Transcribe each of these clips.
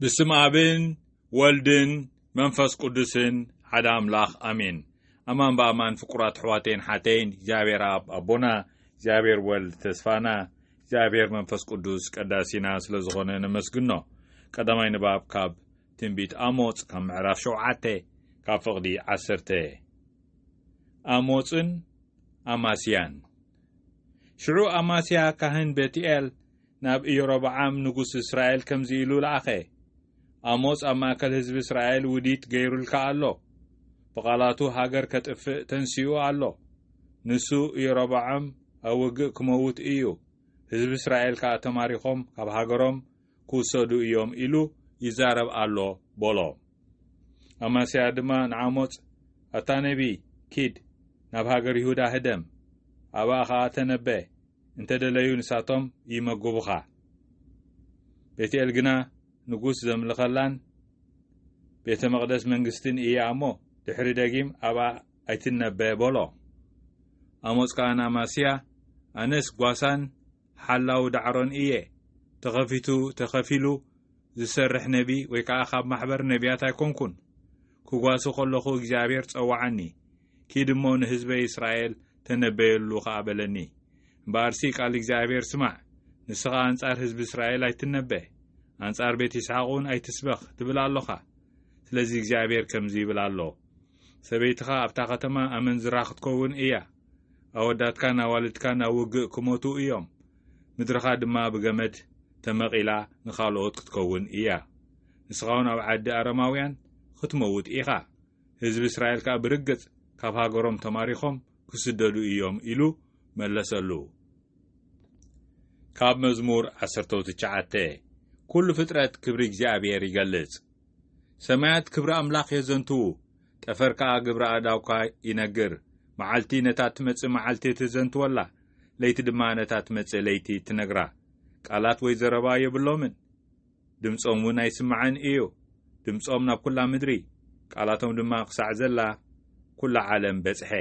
ብስም ኣብን ወልድን መንፈስ ቅዱስን ሓደ ኣምላኽ ኣሜን ኣማን ብኣማን ፍቁራት ኣሕዋተይን ሓተይን እግዚኣብሔር ኣብ ኣቦና እግዚኣብሔር ወልድ ተስፋና እግዚኣብሔር መንፈስ ቅዱስ ቀዳሲና ስለ ዝኾነ ነመስግኖ ቀዳማይ ንባብ ካብ ትንቢት ኣሞፅ ካብ ምዕራፍ ሸውዓተ ካብ ፍቕዲ ዓሰርተ ኣሞፅን ኣማስያን ሽዑ ኣማስያ ካህን ቤትኤል ናብ ኢዮሮብዓም ንጉስ እስራኤል ከምዚ ኢሉ ለኣኸ፣ ኣሞጽ ኣብ ማእከል ህዝቢ እስራኤል ውዲት ገይሩልካ ኣሎ፣ ብቓላቱ ሃገር ኬጥፍእ ተንሲኡ ኣሎ። ንሱ፣ ኢዮሮብዓም፣ ኣብ ውግእ ኪመውት እዩ፣ ህዝቢ እስራኤል ከኣ ተማሪኾም ካብ ሃገሮም ኪውሰዱ እዮም ኢሉ ይዛረብ ኣሎ፣ በሎ። ኣማስያ ድማ ንኣሞጽ፣ ኣታ ነብዪ፣ ኪድ፣ ናብ ሃገር ይሁዳ ህደም፣ ኣብኣ ኸኣ ተነበ። እንተ ደለዩ ንሳቶም ይመግቡኻ። ቤትኤል ግና ንጉስ ዘምልኸላን ቤተ መቕደስ መንግስትን እያ እሞ፣ ድሕሪ ደጊም ኣብኣ ኣይትነበ በሎ። ኣሞጽ ከኣ ንኣማስያ፣ ኣነስ ጓሳን ሓላው ዳዕሮን እየ፣ ተኸፊቱ ተኸፊሉ ዝሰርሕ ነቢ ወይ ከኣ ካብ ማሕበር ነብያት ኣይኮንኩን። ክጓሲ ከለኹ እግዚኣብሄር ጸውዓኒ፣ ኪድ እሞ ንህዝበ እስራኤል ተነበየሉ ኸኣ በለኒ። እምበኣርሲ ቃል እግዚኣብሄር ስማዕ፣ ንስኻ ኣንጻር ህዝቢ እስራኤል ኣይትነበ፣ ኣንጻር ቤት ይስሓቕውን ኣይትስበኽ ትብል ኣሎኻ። ስለዚ እግዚኣብሄር ከምዚ ይብል ኣሎ፣ ሰበይትኻ ኣብታ ኸተማ ኣመንዝራ ኽትከውን እያ፣ ኣወዳትካን ኣዋልድካን ኣብ ውግእ ክሞቱ እዮም፣ ምድርኻ ድማ ብገመድ ተመቒላ ንኻልኦት ክትከውን እያ፣ ንስኻውን ኣብ ዓዲ ኣረማውያን ኽትመውት ኢኻ። ህዝቢ እስራኤል ከኣ ብርግጽ ካብ ሃገሮም ተማሪኾም ክስደዱ ኢዮም ኢሉ መለሰሉ። ካብ መዝሙር ዓሰርተው ትችዓተ ኩሉ ፍጥረት ክብሪ እግዚኣብሔር ይገልጽ። ሰማያት ክብሪ ኣምላኽ የዘንትዉ፣ ጠፈር ከኣ ግብሪ ኣእዳውካ ይነግር። መዓልቲ ነታ እትመጽእ መዓልቲ ትዘንትወላ፣ ለይቲ ድማ ነታ እትመጽእ ለይቲ ትነግራ። ቃላት ወይ ዘረባ የብሎምን። ድምጾም እውን ኣይስማዕን እዩ። ድምጾም ናብ ኩላ ምድሪ፣ ቃላቶም ድማ ክሳዕ ዘላ ኩላ ዓለም በጽሐ።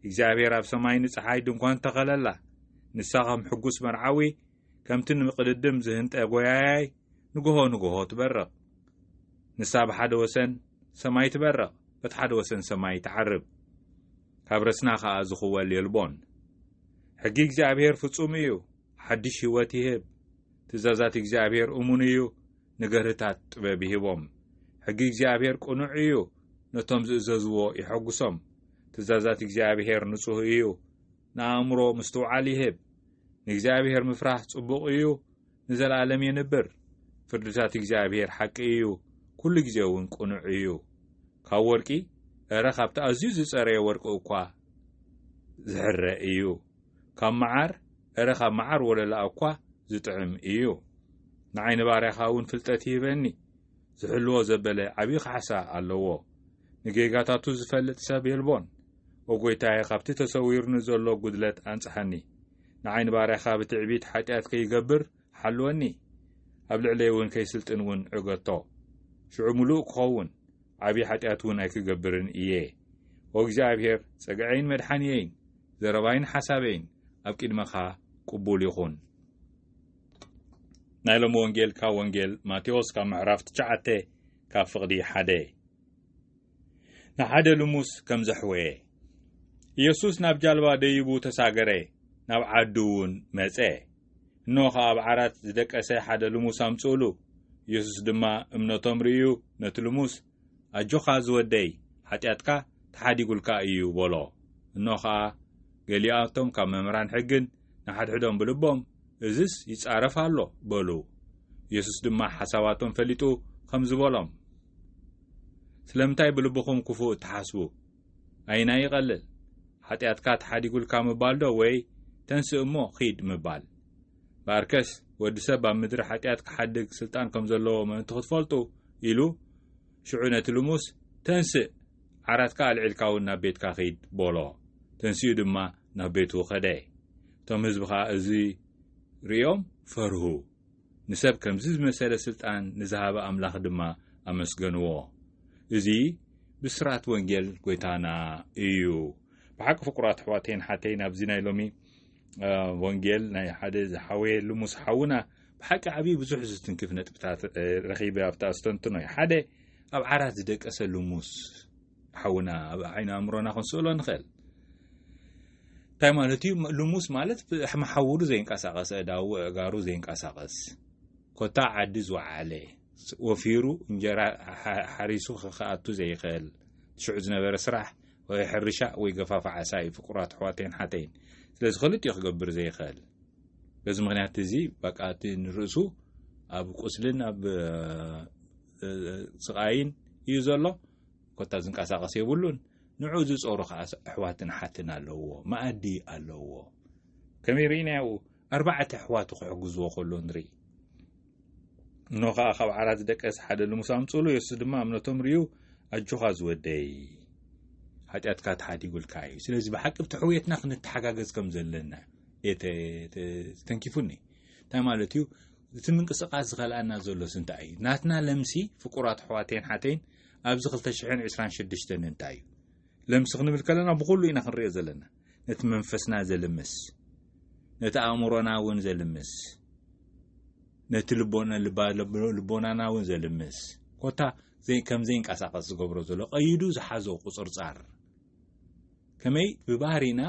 እግዚኣብሔር ኣብ ሰማይ ንጸሓይ ድንኳን ተኸለላ። ንሳ ከም ሕጉስ መርዓዊ፣ ከምቲ ንምቅድድም ዝህንጠ ጎያያይ ንግሆ ንግሆ ትበርቕ። ንሳ ብሓደ ወሰን ሰማይ ትበርቕ፣ በቲ ሓደ ወሰን ሰማይ ትዓርብ። ካብ ረስና ከኣ ዝኽወል የልቦን። ሕጊ እግዚኣብሔር ፍጹም እዩ። ሓድሽ ህይወት ይህብ። ትእዛዛት እግዚኣብሔር እሙን እዩ፣ ንገርህታት ጥበብ ይህቦም። ሕጊ እግዚኣብሔር ቅኑዕ እዩ፣ ነቶም ዝእዘዝዎ የሐጉሶም። ትእዛዛት እግዚኣብሔር ንጹህ እዩ፣ ንኣእምሮ ምስትውዓል ይህብ። ንእግዚኣብሔር ምፍራህ ጽቡቕ እዩ፣ ንዘለኣለም የንብር። ፍርድታት እግዚኣብሔር ሓቂ እዩ፣ ኩሉ ግዜ እውን ቅኑዕ እዩ። ካብ ወርቂ፣ እረ ካብቲ ኣዝዩ ዝጸረየ ወርቂ እኳ ዝሕረ እዩ። ካብ መዓር እረ ካብ መዓር ወለላኣ እኳ ዝጥዕም እዩ ንዓይ ንባርያኻ እውን ፍልጠት ይህበኒ ዝሕልዎ ዘበለ ዓብዪ ካሕሳ ኣለዎ ንጌጋታቱ ዝፈልጥ ሰብ የልቦን ኦ ጐይታየ ካብቲ ተሰዊርኒ ዘሎ ጕድለት ኣንጽሓኒ ንዓይ ንባርያኻ ብትዕቢት ሓጢኣት ከይገብር ሓልወኒ ኣብ ልዕለይ እውን ከይስልጥን እውን ዕገቶ ሽዑ ምሉእ ክኸውን ዓብዪ ሓጢኣት እውን ኣይክገብርን እየ ኦ እግዚኣብሔር ጸግዐይን መድሓንየይን ዘረባይን ሓሳበይን ኣብ ቂድመኻ ቅቡል ይኹን ናይ ሎሚ ወንጌል ካብ ወንጌል ማቴዎስ ካብ ምዕራፍ ትሽዓተ ካብ ፍቕዲ ሓደ ንሓደ ልሙስ ከም ዘሕወየ ኢየሱስ ናብ ጃልባ ደይቡ ተሳገረ ናብ ዓዱ እውን መጸ እነሆ ኸኣ ኣብ ዓራት ዝደቀሰ ሓደ ልሙስ ኣምጽኡሉ። የሱስ ድማ እምነቶም ርእዩ ነቲ ልሙስ፣ ኣጆኻ ዝወደይ፣ ሓጢኣትካ ተሓዲጉልካ እዩ በሎ። እንሆ ኸኣ ገሊኣቶም ካብ መምህራን ሕግን ንሓድሕዶም ብልቦም እዝስ ይጻረፍ ኣሎ በሉ። የሱስ ድማ ሓሳባቶም ፈሊጡ ኸምዚ በሎም፣ ስለምንታይ ብልብኹም ክፉእ እትሓስቡ? ኣየናይ ይቐልል? ሓጢኣትካ ተሓዲጉልካ ምባልዶ ወይ ተንስእ እሞ ኺድ ምባል? እምበኣርከስ ወዲ ሰብ ኣብ ምድሪ ሓጢኣት ክሓድግ ስልጣን ከም ዘለዎ ምእንቲ ኽትፈልጡ ኢሉ ሽዑ ነቲ ልሙስ ተንስእ ዓራትካ ኣልዒልካ እውን ናብ ቤትካ ኺድ በሎ። ተንሲኡ ድማ ናብ ቤቱ ኸደ። እቶም ህዝቢ ኸኣ እዚ ርእዮም ፈርሁ። ንሰብ ከምዚ ዝመሰለ ስልጣን ንዝሃበ ኣምላኽ ድማ ኣመስገንዎ። እዚ ብስራት ወንጌል ጎይታና እዩ። ብሓቂ ፍቁራት ኣሕዋተይን ኣሓተይን ኣብዚ ናይ ሎሚ ወንጌል ናይ ሓደ ዝሓወየ ልሙስ ሓውና ብሓቂ ዓብዪ ብዙሕ ዝትንክፍ ነጥብታት ረኺበ ኣብታ ኣስተንትኖ እዩ ሓደ ኣብ ዓራት ዝደቀሰ ልሙስ ሓውና ኣብ ዓይኒ ኣእምሮና ክንስእሎ ንኽእል እንታይ ማለት እዩ ልሙስ ማለት መሓውሩ ዘይንቀሳቐስ እዳው እጋሩ ዘይንቀሳቐስ ኮታ ዓዲ ዝወዓለ ወፊሩ እንጀራ ሓሪሱ ክኣቱ ዘይኽእል ሽዑ ዝነበረ ስራሕ ወይ ሕርሻ ወይ ገፋፍ ዓሳ እዩ ፍቁራት ኣሕዋተይን ሓተይን ስለዚ ክልጥ እዩ ክገብር ዘይኽእል በዚ ምክንያት እዚ በቃ እቲ ንርእሱ ኣብ ቁስልን ኣብ ስቓይን እዩ ዘሎ ኮታ ዝንቀሳቐስ የብሉን ንዑ ዝጾሩ ከኣ ኣሕዋትን ሓትን ኣለውዎ መኣዲ ኣለውዎ ከመይ ርኢናዮ ኣርባዕተ ኣሕዋቱ ክሕግዝዎ ከሎ ንርኢ እኖ ከኣ ካብ ዓራት ዝደቀስ ሓደ ልሙስ ኣምጽሉ የሱስ ድማ እምነቶም ርዩ ኣጆኻ ዝወደይ ሓጢኣትካ ተሓዲጉልካ እዩ ስለዚ ብሓቂ ብቲ ሕውየትና ክንተሓጋገዝ ከም ዘለና ተንኪፉኒ እንታይ ማለት እዩ እቲ ምንቅስቃስ ዝኸልኣና ዘሎስ እንታይ እዩ? ናትና ለምሲ ፍቁራት ኣሕዋተይን ሓተይን ኣብዚ ክልተ ሽሕን ዕስራን ሸድሽተን እንታይ እዩ? ለምሲ ክንብል ከለና ብኹሉ ኢና ክንሪኦ ዘለና። ነቲ መንፈስና ዘልምስ፣ ነቲ ኣእምሮና እውን ዘልምስ፣ ነቲ ልቦናና እውን ዘልምስ ኮታ ከም ዘይንቀሳቀስ ዝገብሮ ዘሎ ቀይዱ ዝሓዞ ቁፅርፃር ከመይ ብባህሪና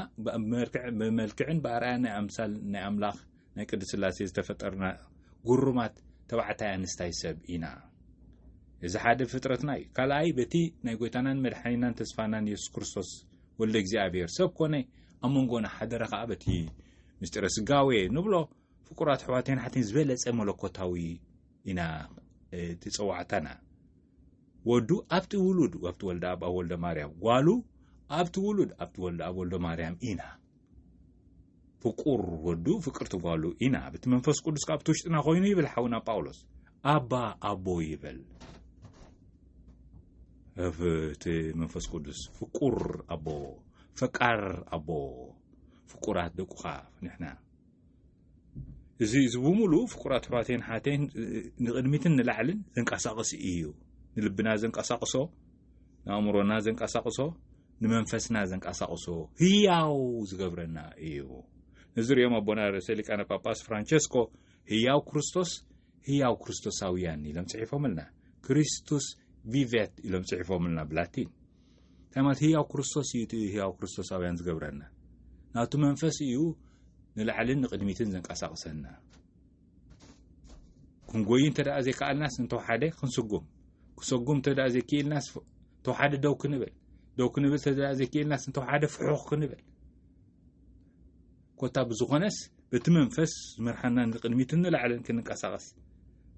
ብመልክዕን ብኣርኣያ ናይ ኣምሳል ናይ ኣምላኽ ናይ ቅድስ ስላሴ ዝተፈጠርና ጉሩማት ተባዕታይ ኣንስታይ ሰብ ኢና እዚ ሓደ ፍጥረትና እዩ ካልኣይ በቲ ናይ ጎይታናን መድሓኒናን ተስፋናን የሱስ ክርስቶስ ወልደ እግዚኣብሔር ሰብ ኮነ ኣብ መንጎና ሓደረ ከዓ በቲ ምስጢረ ስጋዌ ንብሎ ፍቁራት ኣሕዋተይን ኣሓተይን ዝበለጸ መለኮታዊ ኢና እቲ ጸዋዕታና ወዱ ኣብቲ ውሉድ ኣብቲ ወልደ ኣብ ኣብ ወልደ ማርያም ጓሉ ኣብቲ ውሉድ ኣብቲ ወልደ ኣብ ወልደ ማርያም ኢና ፍቁር ወዱ ፍቅርቲ ጓሉ ኢና ብቲ መንፈስ ቅዱስ ካብቲ ውሽጥና ኮይኑ ይብል ሓውና ጳውሎስ ኣባ ኣቦ ይበል እቲ መንፈስ ቅዱስ ፍቁር ኣቦ ፈቃር ኣቦ ፍቁራት ደቁኻ ንሕና እዚ እዚ ብምሉኡ ፍቁራት ኣሕዋተይን ሓተይን ንቕድሚትን ንላዕልን ዘንቀሳቕስ እዩ ንልብና ዘንቀሳቕሶ ንኣእምሮና ዘንቀሳቕሶ ንመንፈስና ዘንቀሳቕሶ ህያው ዝገብረና እዩ ነዚ ሪኦም ኣቦና ርእሰ ሊቃነ ጳጳስ ፍራንቸስኮ ህያው ክርስቶስ ህያው ክርስቶሳውያን ኢሎም ጽሒፎምልና ክሪስቱስ ቪቨት ኢሎም ጽሒፎምልና ብላቲን እንታይ ማለት ህያው ክርስቶስ እዩ እቲ ህያው ክርስቶሳውያን ዝገብረና ናቱ መንፈስ እዩ ንላዕልን ንቕድሚትን ዘንቀሳቕሰና ክንጎዩ እንተ ደኣ ዘይከኣልናስ እንተወሓደ ክንስጉም ክሰጉም እንተ ደኣ ዘይክኢልናስ ተወሓደ ደው ክንብል ደው ክንብል እንተ ደኣ ዘይክኢልናስ እንተወሓደ ፍሑኽ ክንብል ኮታ ብዝኾነስ በቲ መንፈስ ዝመርሓና ንቕድሚትን ንላዕልን ክንንቀሳቐስ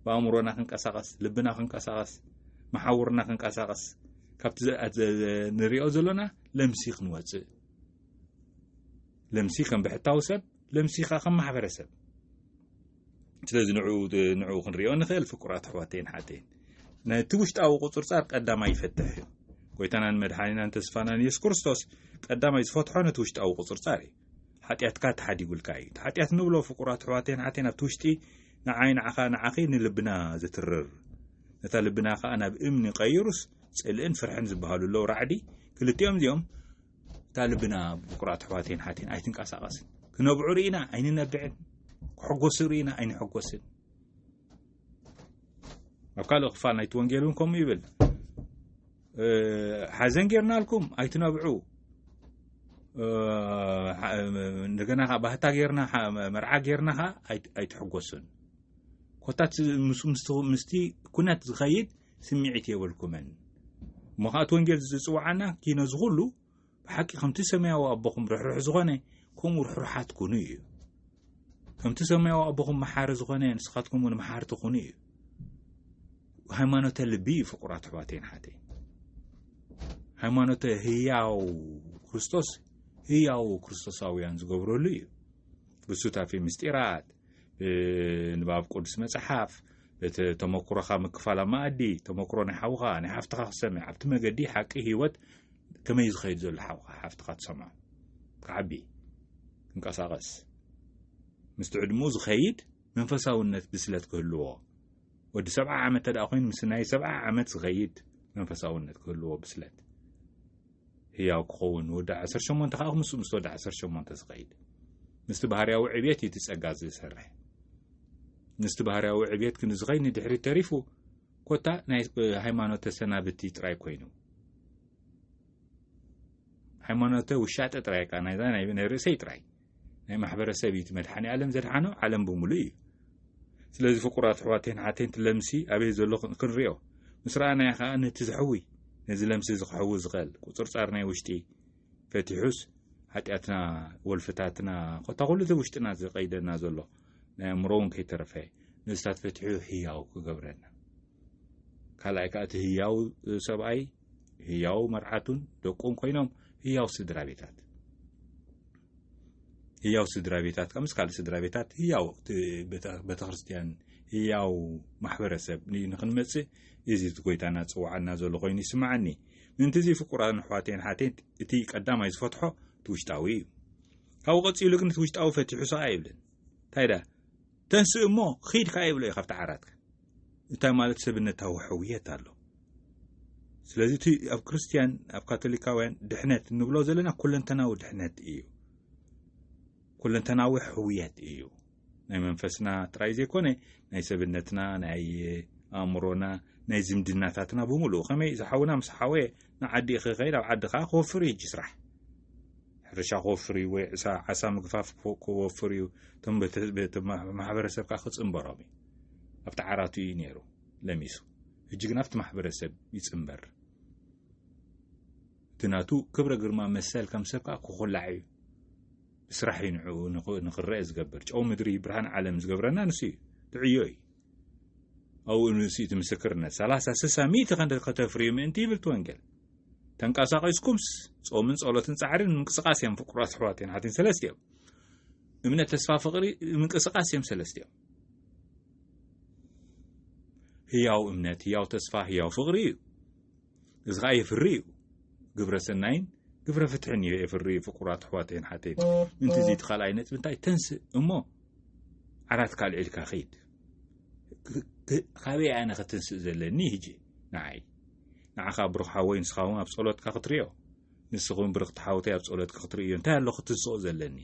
ብኣእምሮና ክንቀሳቐስ ልብና ክንቀሳቐስ መሓውርና ክንቀሳቐስ ካብቲ ንሪኦ ዘለና ለምሲ ክንወፅእ ለምሲ ከም ብሕታዊ ሰብ ለምሲ ከዓ ከም ማሕበረሰብ ስለዚ ንዕኡ ክንሪኦ ንኽእል ፍቁራት ኣሕዋተይን ሓተይን ነቲ ውሽጣዊ ቁፅርፃር ቀዳማይ ይፈትሕ እዩ ጎይታናን መድሓኒናን ተስፋናን የሱስ ክርስቶስ ቀዳማይ ዝፈትሖ ነቲ ውሽጣዊ ቁፅርፃር እዩ ሓጢኣትካ ተሓዲጉልካ እዩ እቲ ሓጢኣት ንብሎ ፍቁራት ኣሕዋተይን ሓተይን ኣብቲ ውሽጢ ንዓይ ንዓኻ ንዓኺ ንልብና ዝትርር ነታ ልብና ከዓ ናብ እምኒ ቀይሩስ ፅልእን ፍርሕን ዝበሃሉ ኣለዉ ራዕዲ ክልቲኦም እዚኦም እታ ልብና ብፍቁራት ኣሕዋተይን ሓተይን ኣይትንቀሳቐስን ክነብዑ ርኢና ኣይንነብዕን ክሕጎሱ ርኢና ኣይንሕጎስን ኣብ ካልእ ክፋል ናይቲ ወንጌል እውን ከምኡ ይብል ሓዘን ጌርናልኩም ኣይትነብዑ እንደገና ከዓ ባህታ ጌርና መርዓ ጌርና ከዓ ኣይትሕጎሱን ኮታት ምስቲ ኩነት ዝኸይድ ስሚዒት የብልኩምን እሞ ከኣ እቲ ወንጌል ዝጽውዓና ኪኖ ዝኹሉ ብሓቂ ከምቲ ሰማያዊ ኣቦኹም ርሕሩሕ ዝኾነ ከምኡ ርሕሩሓት ኩኑ እዩ ከምቲ ሰማያዊ ኣቦኹም መሓሪ ዝኾነ ንስኻትኩም እውን መሓርቲ ኩኑ እዩ ሃይማኖተ ልቢ እዩ ፍቁራት ኣሕዋተይን ሓተይ ሃይማኖተ ህያው ክርስቶስ ህያው ክርስቶሳውያን ዝገብረሉ እዩ ብሱታፌ ምስጢራት ንባብ ቅዱስ መጽሓፍ እቲ ተመኩሮኻ ምክፋል ኣብ መኣዲ ተመኩሮ ናይ ሓውኻ ናይ ሓፍትኻ ክትሰምዕ ኣብቲ መገዲ ሓቂ ህይወት ከመይ ዝኸይድ ዘሎ ሓውኻ ሓፍትኻ ትሰምዖ ክዓቢ ክንቀሳቐስ ምስቲ ዕድሙ ዝኸይድ መንፈሳውነት ብስለት ክህልዎ ወዲ ሰብዓ ዓመት ተደኣ ኮይኑ ምስ ናይ ሰብዓ ዓመት ዝኸይድ መንፈሳውነት ክህልዎ ብስለት ህያው ክኸውን ንወዲ ዓሰርተ ሸሞንተ ከኣ ምስ ምስ ወዲ ዓሰርተ ሸሞንተ ዝኸይድ ምስቲ ባህርያዊ ዕብየት እዩ እቲ ጸጋ ዝሰርሕ ምስቲ ባህርያዊ ዕብየት ክንዝኸይ ንድሕሪት ተሪፉ ኮታ ናይ ሃይማኖት ተሰናብቲ ጥራይ ኮይኑ ሃይማኖተ ውሻጠ ጥራይ ቃ ናይዛ ናይ ርእሰይ ጥራይ ናይ ማሕበረሰብ እዩ መድሓኒ ኣለም ዘድሓኖ ዓለም ብምሉእ እዩ ስለዚ ፍቁራት ኣሕዋተይን ሓተይን ትለምሲ ኣበይ ዘሎ ክንሪኦ ምስ ረኣናዮ ከዓ ነቲ ዘሕዊ ነዚ ለምሲ ዝክሕዊ ዝኸል ቁፅርፃር ናይ ውሽጢ ፈቲሑስ ሓጢኣትና ወልፍታትና ኮታ ኩሉ እቲ ውሽጥና ዝቀይደና ዘሎ ናይ ኣእምሮ እውን ከይተረፈ ንስታት ፈቲሑ ህያው ክገብረና ካልኣይ ከዓ እቲ ህያው ሰብኣይ ህያው መርዓቱን ደቁን ኮይኖም ህያው ስድራ ቤታት ህያው ስድራ ቤታት ካብ ምስ ካልእ ስድራ ቤታት ህያው ቤተ ክርስትያን ህያው ማሕበረሰብ ንክንመፅእ እዚ እቲ ጎይታና ዝፅውዓና ዘሎ ኮይኑ ይስምዓኒ ምእንቲ እዚ ፍቁራን ኣሕዋቴን ሓቴት እቲ ቀዳማይ ዝፈትሖ እቲ ውሽጣዊ እዩ ካብኡ ቀፂሉ ግን እቲ ውሽጣዊ ፈቲሑ ሰቓ ይብልን እንታይ ደኣ ተንስእ እሞ ኺድ ከኣ ይብሎ እዩ ካብቲ ዓራትካ እንታይ ማለት ሰብነታዊ ሕውየት ኣሎ ስለዚ እቲ ኣብ ክርስትያን ኣብ ካቶሊካውያን ድሕነት እንብሎ ዘለና ኩለንተናዊ ድሕነት እዩ ኩለንተናዊ ሕውየት እዩ ናይ መንፈስና ጥራይ ዘይኮነ ናይ ሰብነትና ናይ ኣእምሮና ናይ ዝምድናታትና ብምሉእ ከመይ ዝሓውና ምስ ሓወ ንዓዲ ክኸይድ ኣብ ዓዲ ከዓ ክወፍር እዩ ስራሕ ሕርሻ ክወፍር እዩ ወይ ዕሳ ዓሳ ምግፋፍ ክወፍር እዩ እቶም በቲ ህዝቢ እቲ ማሕበረሰብ ከዓ ክፅምበሮም እዩ ኣብቲ ዓራቱ እዩ ነይሩ ለሚሱ ሕጂ ግን ኣብቲ ማሕበረሰብ ይፅምበር እቲ ናቱ ክብረ ግርማ መሰል ከም ሰብ ከዓ ክኹላዕ እዩ ብስራሕ እዩ ንዕኡ ንክረአ ዝገብር ጨው ምድሪ ብርሃን ዓለም ዝገብረና ንሱ እዩ ትዕዮ እዩ ኣብኡ ንሱ እቲ ምስክርነት ሰላሳ ስሳ ሚእቲ ከንደ ከተፍርዩ ምእንቲ ይብል እቲ ወንጌል ተንቀሳቒስኩምስ ጾምን ጸሎትን ጻዕርን ምንቅስቓስ እዮም ፍቁራት ኣሕዋትን ኣሓትን ሰለስተ እዮም እምነት ተስፋ ፍቕሪ ምንቅስቓስ እዮም ሰለስተ እዮም ህያው እምነት ህያው ተስፋ ህያው ፍቕሪ እዩ እዚ ከኣ የፍሪ እዩ ግብረ ሰናይን ግብረ ፍትሕን እዩ የፍሪ እዩ ፍቁራት ኣሕዋተይን ሓተይን ምንቲ እዚ እቲ ካልኣይ ነጥቢ እንታይ ተንስእ እሞ ዓራት ካልዒልካ ከይድ ካበይ ኣነ ክትንስእ ዘለኒ ህጂ ንዓይ ንዓኻ ብሩኽ ሓወይ ንስኻ እውን ኣብ ጸሎትካ ክትሪኦ ንስኹም ብርኽቲ ሓውተይ ኣብ ጸሎትካ ክትርእዮ እንታይ ኣሎ ክትንስኦ ዘለኒ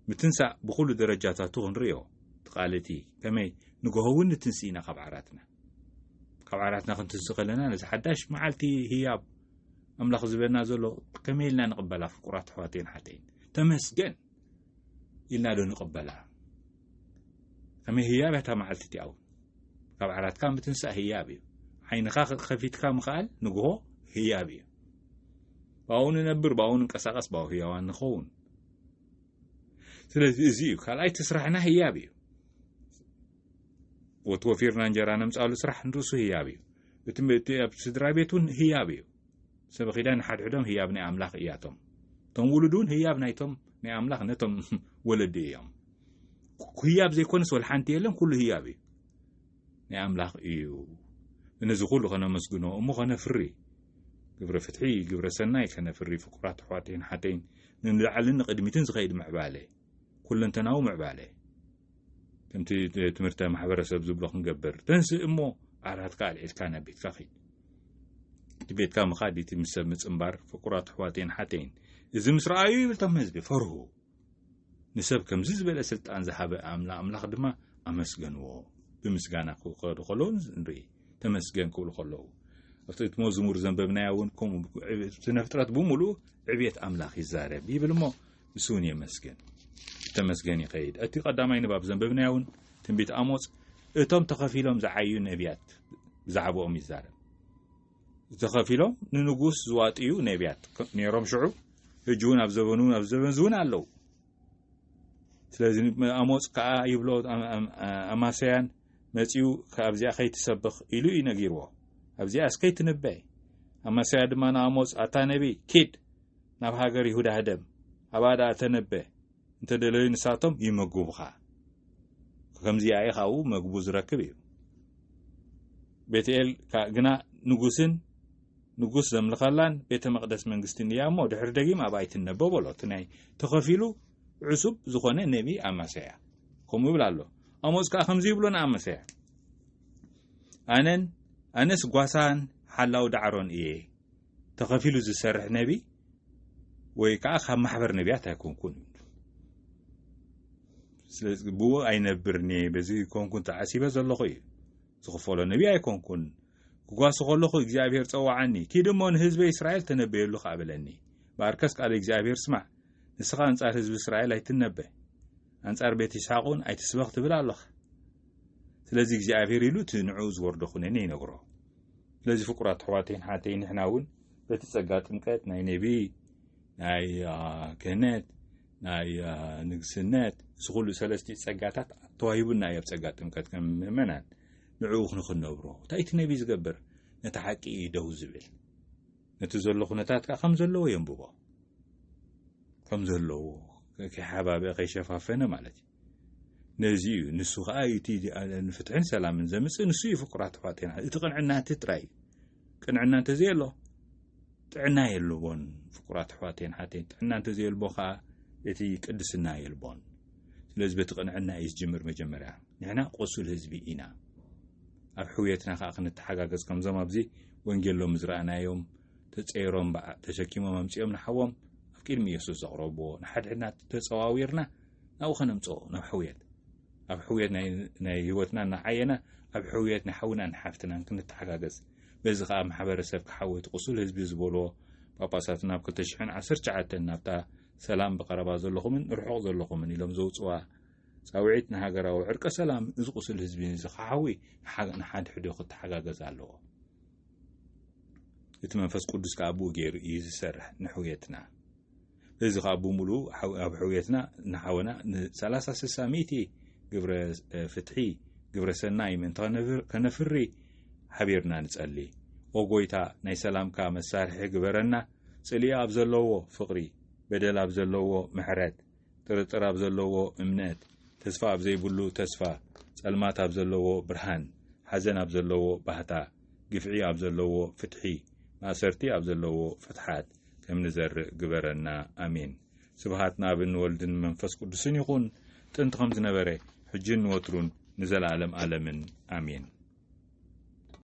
ምትንሳእ ብኹሉ ደረጃታቱ ክንሪኦ ትቃልቲ ከመይ ንግሆ እውን ንትንስኢና ካብ ዓራትና ካብ ዓራትና ክንትንስ ከለና ነዚ ሓዳሽ መዓልቲ ህያብ ኣምላኽ ዝበና ዘሎ ከመይ ኢልና ንቕበላ ፍቁራት ኣሕዋተይን ሓተይን ተመስገን ኢልና ዶ ንቕበላ ከመይ ህያብ እያ እታ መዓልቲ እቲኣ እውን ካብ ዓራትካ ምትንሳእ ህያብ እዩ ዓይንኻ ከፊትካ ምኽኣል ንግሆ ህያብ እዩ ብኣኡ ንነብር ብኣኡ ንንቀሳቐስ ብኣኡ ህያዋን ንኸውን ስለዚ እዚ እዩ ካልኣይ እቲ ስራሕና ህያብ እዩ ወት ወፊርና እንጀራ ነምጻሉ ስራሕ ንርእሱ ህያብ እዩ። እቲ ምእቲ ኣብ ስድራ ቤት እውን ህያብ እዩ። ሰበ ኺዳን ንሓድሕዶም ህያብ ናይ ኣምላኽ እያቶም። እቶም ውሉድ እውን ህያብ ናይቶም ናይ ኣምላኽ ነቶም ወለዲ እዮም። ህያብ ዘይኮነስ ወላ ሓንቲ የለን፣ ኩሉ ህያብ እዩ። ናይ ኣምላኽ እዩ። ነዚ ኩሉ ከነመስግኖ እሞ ከነፍሪ ግብረ ፍትሒ ግብረ ሰናይ ከነፍሪ ፍቁራት ኣሕዋተይን ሓተይን ንላዕልን ንቅድሚትን ዝኸይድ ምዕባለ ኩለንተናዊ ምዕባለ ከምቲ ትምህርተ ማሕበረሰብ ዝብሎ ክንገብር ተንስእ እሞ ዓራትካ ኣልዒልካ ናብ ቤትካ ኺድ እቲ ቤትካ ምኻድ እቲ ምስ ሰብ ምፅምባር ፍቁራት ኣሕዋተይን ሓተይን እዚ ምስ ረኣዩ ይብል ቶም ህዝቢ ፈርሁ ንሰብ ከምዚ ዝበለ ስልጣን ዝሃበ ኣምላ ኣምላኽ ድማ ኣመስገንዎ ብምስጋና ክኸዱ ከለዉ ንርኢ ተመስገን ክብሉ ከለዉ ኣብቲ እቲ መዝሙር ዘንበብናያ እውን ከምኡ ስነ ፍጥረት ብምሉእ ዕብየት ኣምላኽ ይዛረብ ይብል እሞ ንሱውን የመስግን ተመስገን ይኸይድ እቲ ቀዳማይ ንባብ ዘንበብናዮ እውን ትንቢት ኣሞፅ እቶም ተኸፊሎም ዝዓዩ ነቢያት ብዛዕባኦም ይዛረብ ተኸፊሎም ንንጉስ ዝዋጥዩ ነቢያት ነይሮም ሽዑ ሕጂ እውን ኣብ ዘበኑ ኣብ ዘበን እዚ እውን ኣለዉ ስለዚ ኣሞፅ ከዓ ይብሎ ኣማሰያን መፂኡ ካብዚኣ ከይትሰብኽ ኢሉ እዩ ነጊርዎ ኣብዚኣ እስከይትንበ ኣማሰያ ድማ ንኣሞፅ ኣታ ነቢ ኪድ ናብ ሃገር ይሁዳ ህደም ኣብኣ ደኣ ተነበ እንተ ደለዩ ንሳቶም ይመግቡኻ ከምዚ ኣዩ ካብኡ መግቡ ዝረክብ እዩ ቤትኤል ካእ ግና ንጉስን ንጉስ ዘምልኸላን ቤተ መቅደስ መንግስትን እያ እሞ ድሕሪ ደጊም ኣብኣ ይትነበ በሎ እቲ ናይ ተኸፊሉ ዕሱብ ዝኾነ ነቢ ኣማሰያ ከምኡ ይብል ኣሎ ኣሞፅ ከዓ ከምዚ ይብሎ ንኣማሰያ ኣነን ኣነስ ጓሳን ሓላው ዳዕሮን እየ ተኸፊሉ ዝሰርሕ ነቢ ወይ ከዓ ካብ ማሕበር ነቢያት ኣይኮንኩን ስለዚ ብኡ ኣይነብርኒ በዚ ኮንኩን ተዓሲበ ዘለኹ እዩ ዝኽፈሎ ነቢ ኣይኮንኩን ክጓሱ ከለኹ እግዚኣብሄር ፀዋዓኒ ኪድ እሞ ንህዝበ እስራኤል ተነበየሉ ከዓ በለኒ በኣርከስ ቃል እግዚኣብሄር ስማዕ ንስኻ ኣንጻር ህዝቢ እስራኤል ኣይትነበ ኣንጻር ቤት ይስሓቅ እውን ኣይትስበኽ ትብል ኣለኻ ስለዚ እግዚኣብሄር ኢሉ እቲ ንዕኡ ዝወርዶ ኩነኔ ይነግሮ ስለዚ ፍቁራት ኣሕዋተይን ኣሓተይን ንሕና እውን በቲ ጸጋ ጥምቀት ናይ ነቢይ ናይ ክህነት ናይ ንግስነት እዚ ኩሉ ሰለስቲኡ ጸጋታት ተዋሂቡና እዩ ኣብ ጸጋ ጥምቀት ከም ምእመናን ንዕኡ ክንክነብሮ እንታይ እቲ ነቢይ ዝገብር ነቲ ሓቂ እዩ ደው ዝብል ነቲ ዘሎ ኩነታት ከዓ ከም ዘለዎ የንብቦ ከም ዘለዎ ከይሓባበ ከይሸፋፈነ ማለት እዩ ነዚ እዩ ንሱ ከዓ እዩ እቲ ንፍትሕን ሰላምን ዘምፅእ ንሱ እዩ ፍቁራት ተፋጤና እቲ ቅንዕና እቲ ጥራይ እዩ ቅንዕና እንተዘየሎ ጥዕና የልቦን ፍቁራት ኣሕዋተይን ሓተይን ጥዕና እንተዘየልቦ ከዓ እቲ ቅድስና የልቦን ስለዚ በቲ ቅንዕና እዩ ዝጅምር መጀመርያ ንሕና ቆሱል ህዝቢ ኢና ኣብ ሕውየትና ከዓ ክንተሓጋገዝ ከምዞም ኣብዚ ወንጌሎም ዝረኣናዮም ተፀይሮም ተሸኪሞም ኣምፅኦም ንሓዎም ኣብ ቅድሚ የሱስ ዘቕረብዎ ንሓድሕድና ተፀዋዊርና ናብኡ ከነምጽኦ ናብ ሕውየት ኣብ ሕውየት ናይ ህይወትና እናዓየና ኣብ ሕውየት ንሓውናን ንሓፍትናን ክንተሓጋገዝ በዚ ከዓ ማሕበረሰብ ክሓወ እቲ ቁሱል ህዝቢ ዝበልዎ ጳጳሳትና ኣብ 219 ናብታ ሰላም ብቀረባ ዘለኹምን ርሑቕ ዘለኹምን ኢሎም ዘውፅዋ ፃውዒት ንሃገራዊ ዕርቀ ሰላም እዚ ቁሱል ህዝቢ እዚ ክሓዊ ንሓድሕዶ ክተሓጋገዝ ኣለዎ እቲ መንፈስ ቅዱስ ከዓ ብኡ ገይሩ እዩ ዝሰርሕ ንሕውየትና እዚ ከኣ ብምሉኡ ኣብ ሕውየትና ንሓወና ንሰላሳ ስሳ ሚእቲ ግብረ ፍትሒ ግብረ ሰናይ ምእንቲ ከነፍሪ ሓቢርና ንጸሊ። ኦ ጎይታ ናይ ሰላምካ መሳርሒ ግበረና ጽልኢ ኣብ ዘለዎ ፍቕሪ በደል ኣብ ዘለዎ ምሕረት ጥርጥር ኣብ ዘለዎ እምነት ተስፋ ኣብ ዘይብሉ ተስፋ ጸልማት ኣብ ዘለዎ ብርሃን ሓዘን ኣብ ዘለዎ ባህታ ግፍዒ ኣብ ዘለዎ ፍትሒ ማእሰርቲ ኣብ ዘለዎ ፍትሓት ከም ንዘርእ ግበረና ኣሜን። ስብሃት ንኣብን ንወልድን መንፈስ ቅዱስን ይኹን ጥንቲ ከም ዝነበረ ሕጂን ንወትሩን ንዘለኣለም ኣለምን ኣሜን።